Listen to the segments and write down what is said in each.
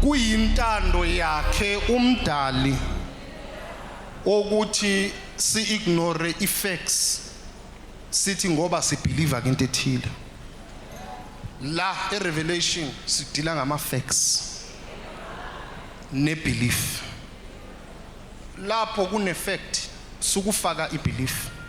kuyintando yakhe umdali ukuthi si-ignore i-facts sithi ngoba sibhiliva ke into ethile la e-revelation sidila ngama-facts ne-belief lapho kune-fact sukufaka i-belief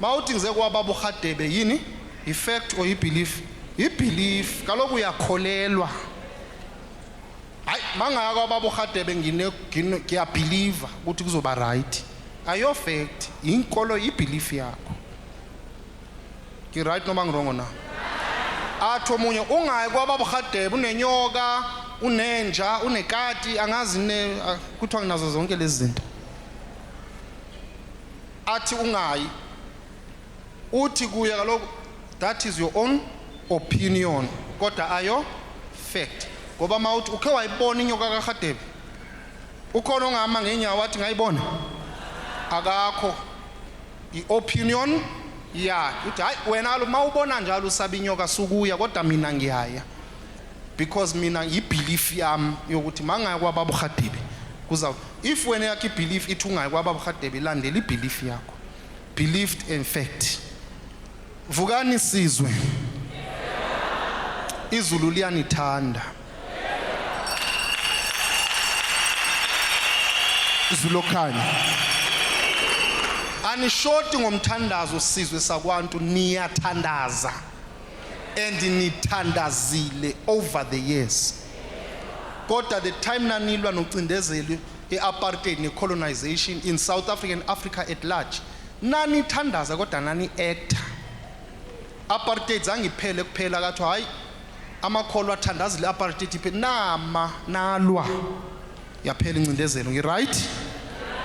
Mawuthi ngize kwababa uRhadebe yini? Yifact or yibelief? Yibelief. Kaloku uyakholelwa. Hayi mangaya kwababa uRhadebe ngine ngine- ngiyabhiliva ukuthi kuzoba right. Ayo fact, yinkolo yibelief yakho. Ngi right noma ngirongo na? Athi omunye ungayi kwababa uRhadebe unenyoka, unenja, unekati, angazi ne ah, kuthiwa nginazo zonke lezi zinto. athi ungayi uthi kuye kaloku that is your own opinion kodwa ayo fact ngoba mawuthi ukhe wayibona inyoka karhadebe ukhona ongahamba ngeenyawo wathi ngayibona akakho i-opinion yakhe uthi hayi wena kaloku uma ubona njalo usaba inyoka sukuya kodwa mina ngiyaya because mina yibelief yami yokuthi mangaya kwababa uGadebe kuza if wena yakhe ibelief ithi ungayi kwababa uGadebe landela ibelief yakho believed in fact vukani sizwe izulu liyanithanda izulu okhanya anishoti ngomthandazo sizwe sakwantu niyathandaza and nithandazile over the years kodwa the time nanilwa nocindezeli i-apartheid ne-colonization in south africa and africa at large nanithandaza kodwa nani-acta apartheid zangiphele kuphela kathiwa hhayi amakholwa athandazile apartheid iphele nama nalwa yaphela incindezelo ngi-right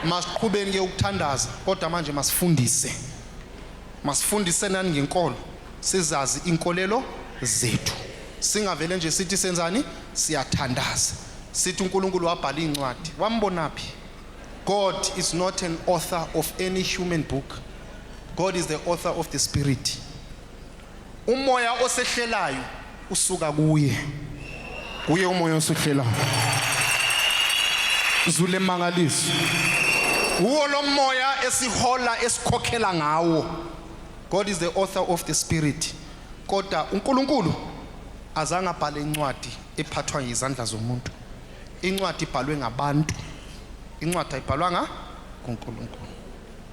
masiqhubeni ke ukuthandaza kodwa manje masifundise Masifundisenani ngenkolo, sizazi inkolelo zethu. Singavele nje sithi senzani? Siyathandaza. Sithi uNkulunkulu wabhala izincwadi. Wambonaphi? God is not an author of any human book. God is the author of the spirit. Umoya osehlelayo usuka kuye. Kuye umoya osehlelayo. Zule mangaliso. Uwo lo moya esihola esikhokhela ngawo. God is the author of the spirit. Kodwa uNkulunkulu azange abhale incwadi ephathwa yizandla zomuntu. Incwadi ibhalwe ngabantu. Incwadi ayibhalwanga kuNkulunkulu.